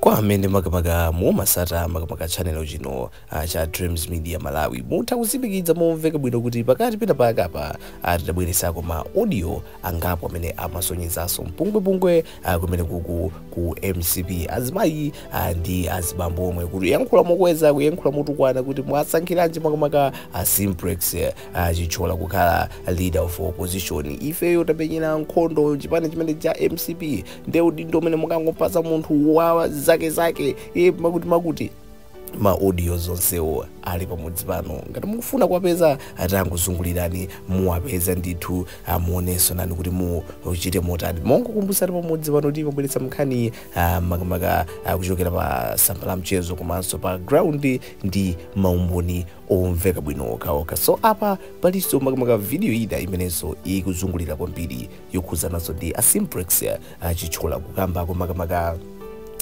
Kwa amene makamaka mumasata makamaka channel chino ah, cha Dreams Media Malawi mutha kutsimikiza momveka bwino kuti pakati pena pake apa ah, tidabweresako ma audio angapo amene amasonyezanso mpungwepungwe ah, kumene kuku ku mcp azimayi ah, ndi azibambo omwe kuyankhula mokweza kuyankhula motukwana kuti mwasankhiranji makamaka ah, simplex a Chithyola kukhala leader of opposition ifeyo tamenyera nkhondo chipani chimene cha mcp nde udindo umene mukangopatsa munthu wa zake zake imakuti makuti ma audio onsewo ali pamudzi pano ngati mukufuna kuwapeza tangozungulirani muwapeza ndithu muonenso nani kuti muchite motani mongokumbutsani pamudzi pano timabweretsa nkhani ah, makamaka ah, kuchokera pa tsamba la mchezo komanso pa ground ndi maumboni omveka bwino okhaokha so apa palinso makamaka video ina imenenso ikuzungulira kwambiri yokhudzananso ndi a Simplex a Chithyola kukambako makamaka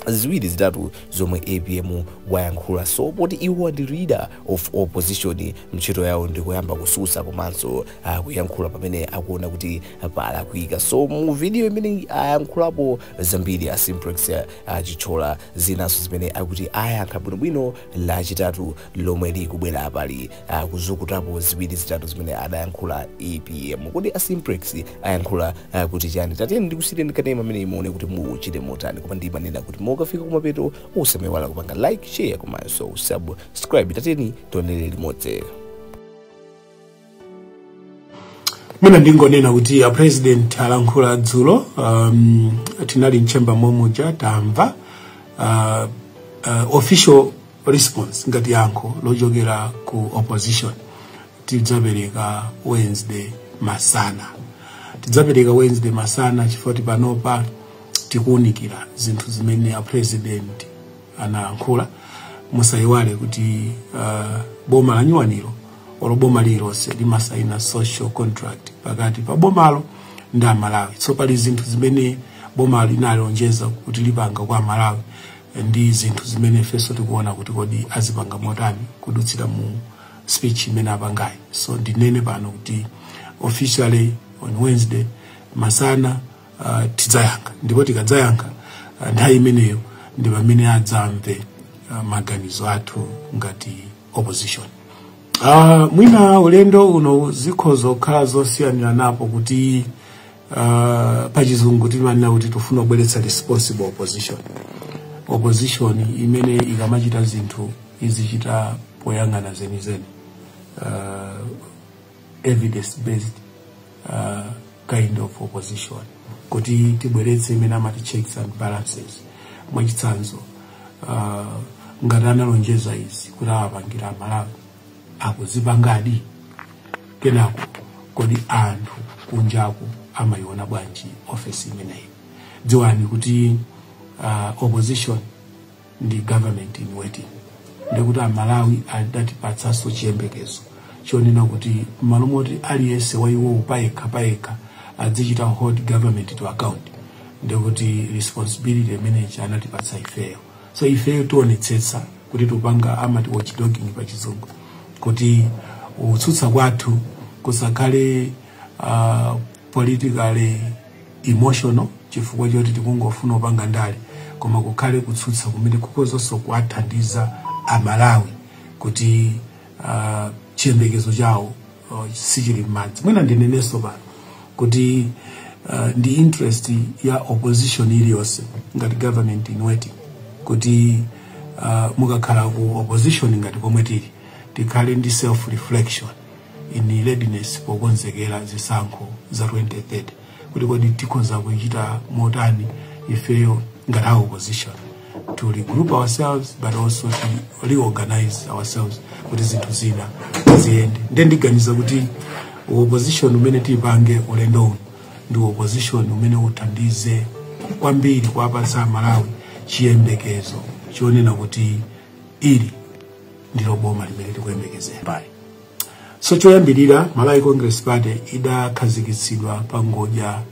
ziwiri zitatu zomwe apm wayankhula so poti iwo ndi leader of opposition ntchito yawo ndikuyamba kutsutsa komanso kuyankhula pamene akuona kuti palakwika so mu video imene ayankhulapo zambiri a simplex a Chithyola zinanso zimene akuti ayankha bwinobwino lachitatu lomwe likubwera apa ali kuzukutapo ziwiri zitatu zimene adayankhula apm kodi a simplex ayankhula ah, kuti chani tatiyeni ndikusiyireni kanema ameneyi muone kuti muchite motani koma ndimanena kuti mukafika kumapeto osamaiwala kupanga like share komanso subscribe tatiyeni tionere limodzi Mwina ndingonena kuti a president alankhula dzulo um, tinali m'chamber momuja tamva uh, uh, official response ngati yankho lochokera ku opposition tidzapereka wednesday masana tidzapereka wednesday masana chifukwa choti panopa tikuunikira zinthu zimene a president anayankhula musayiwale kuti uh, boma lanyuwaniro olo boma lililonse limasaina social contract pakati pa bomalo ndi amalawi so pali zinthu zimene boma linalonjeza kuti lipanga kwa amalawi ndi zinthu zimene ifenso tikuona kuti kodi azipanga motani kudutsira mu speech imene apangayi so ndinene pano kuti officially on wednesday masana uh, tidzayankha ndipo tikadzayankha uh, nthawi imeneyo ndi pamene adzamve uh, maganizo athu ngati opposition uh, mwina ulendo uno zikhoza kukhala zosiyaniranapo kuti uh, pachizungu timanena kuti tifuna kubweretsa responsible opposition opposition imene ikamachita zinthu izichita poyang'ana zenizeni uh, evidence based uh, kind of opposition kuti tibweretse imene amati checks and balances mwachitsanzo uh, ngati analonjeza izi kuti awapangira amalawi akuzipangadi komanso kodi anthu kunjaku amayiona bwanji ofesi imeneyi dziwani kuti uh, opposition ndi government in waiting ndikuti amalawi adatipatsanso chiyembekezo chonena kuti m'malo moti aliyense wa iwowo payekha payekha adzichita hold government to account ndikuti responsibility imeneyi anatipatsa ifeyo so ifeyo tionetsetsa kuti tupanga amati watchdogging pa chizungu kuti kutsutsa kwathu kusakhale uh, politically emotional chifukwa choti tikungofuna kupanga ndale koma kukhale kutsutsa kumene kukhozanso kuwathandiza amalawi kuti uh, chiyembekezo chawo uh, sichili mmadzi mwina ndinenenso pano kuti uh, ndi interest ya opposition iliyonse ngati government in waiting kuti uh, mukakhala ku opposition ngati pomwe tili tikhale ndi self reflection in readiness pokonzekera zisankho za 2030 kuti kodi tikhoza kuchita motani ifeyo ngati a opposition to regroup ourselves but also to reorganize ourselves kuti zinthu zina ziyende nde ndiganiza kuti opposition umene tipange ulendo uno ndi opposition umene uthandize kwambiri kuwapatsa amalawi chiyembekezo chonena kuti ili ndilo boma limene tikuyembekezera so choyambirira malawi congress party idakhazikitsidwa pa ngodya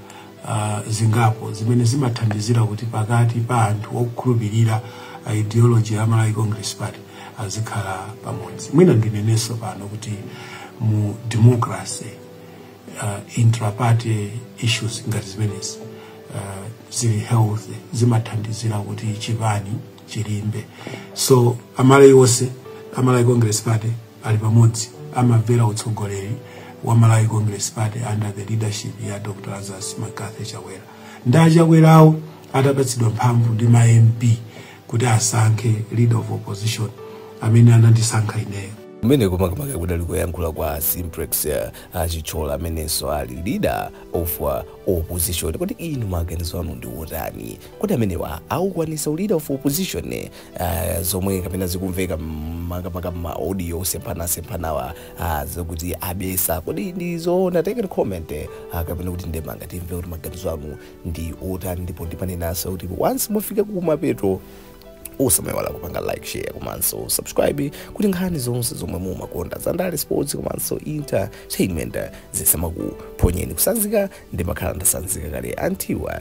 uh, zingapo zimene zimathandizira kuti pakati pa anthu okhulupirira uh, ideology ya malawi congress party azikhala pamodzi mwina ndinenenso pano kuti mu democracy uh, intraparty issues ngati zimenezi uh, zili healthy zimathandizira kuti chipani chilimbe so amalawi onse a malawi congress party ali pamodzi amamvera utsogoleri wa malawi congress party under the leadership ya dr lazarus mccarthy chakwera ndi achakwerawo atapatsidwa mphamvu ndi ma mp kuti asankhe leader of opposition amene anandisankha ineyo kumene kumakamaka kudali kuyankhula kwa simplex eh, achithyola amenenso ali leader of uh, opposition kodi inu maganizo anu ndi otani Kodi amenewa akukwanisa u leader of opposition uh, zomwe kapena zikumveka makamaka ma audio semphana semphanawa uh, zokuti abesa kodi ndi zoona take a comment uh, kapena kuti ndemanga timve kuti maganizo anu ndi otani ndipo ndibwerezenso kuti once mwafika kumapeto musamaiwale kupanga like share komanso subscribe kuti nkhani zonse zomwe mumakonda zandale sports komanso entertainment zisamakuphonyeni kutsanzika ndimakhala ndatsanzika kale antiwa